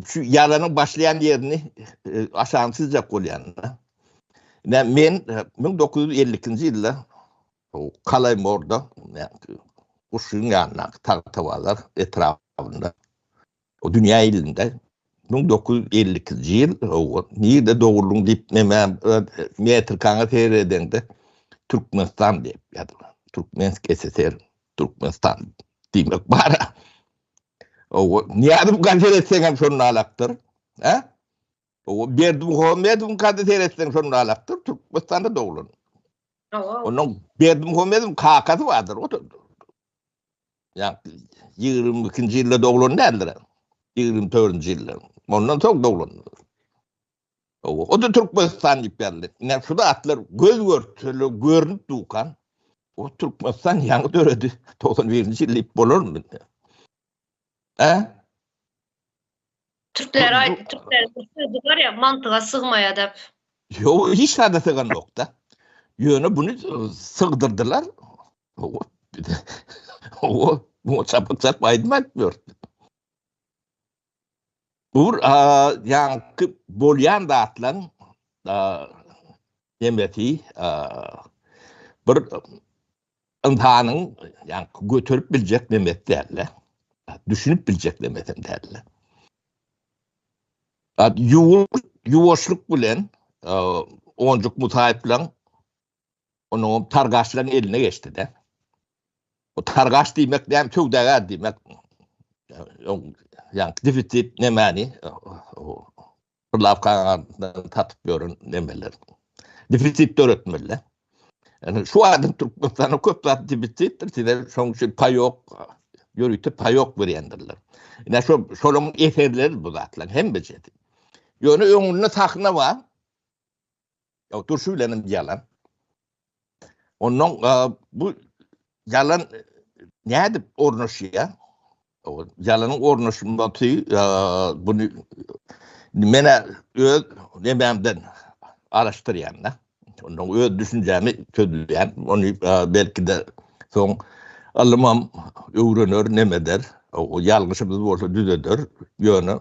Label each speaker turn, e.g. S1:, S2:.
S1: şu ýaranyň başlaýan ýerini e, aşagyny çyzjak bolýan. Ne men 1952-nji e, ýylda Kalaýmorda Guşuň ýanyndaky Tagtabazar etrabynda o dünýä ilinde 1952-nji ýyl o nirde dogrulyň diýip näme metr kaňa seýredende Türkmenistan diýip ýadyma Türkmensk SSR Türkmenistan diýmek bar. Owo, Nyýazow gaty seretseňem şonda alakdyr. Hä? Owo, Berdimuhamedowyň gaty seretseň şonda alakdyr, Türkmenistanda doglan. Owo. Onuň Berdimuhamedowyň kakasy bardyr, o da. Ýa 22-nji ýylda doglan däldir. 24-nji ýylda. Ondan soň doglan. Owa, o-da Türkmenistan diýip ýazylyp. Ine, şu zatlar göz görtele görnüp dukan, o Türkmenistan ýaňy döredi, togsan birinji ýyl diýip bolarmy indi? Hä? Türkler aýtdy, türkler bir
S2: sözi bar ýa, mantyga sygmaýadap. Ýok, hiç
S1: zada syganokda. Ýöne buny sygdyrdylar. Owa, bir-de, owa, muňa çapykçap aýdym aýdyp ýörüpdi. Bu ýaňky bolýan zatlaryň hemmesi bir ynsanyň ýaňky göterip biljek nemesi däldi. Düşünip biljek nemesi hem däldi. Ýuwaşlyk bilen Onjuk Musaýew bilen Onuň targaçlaryň eline geçdi-de. O targaç diýmek näme söwdagär diýmek. Ýa defisit nämäni? Pulawkadan tatyp ýören nämeler. Defisit döretmeli. Yani şu adam Türkmenistan'a köp zat dibitlikdir. Size şoň üçin payok, yörüte payok berýändirler. Yani şu, şolun eserleri bu zatlar, hem becedi. Yöne öňünde sahna var. Ýok, durşy bilen hem ýalan. Ondan bu ýalan nädip ornaşýar? Ýalanyň ornaşmagy buny men öz nebämden araşdyrýan da. Ondan öz düşünjämi çözýän. Ony belki de soň alymam öwrener, nemeder. O ýalňyşymyz bolsa düzeder. Ýöne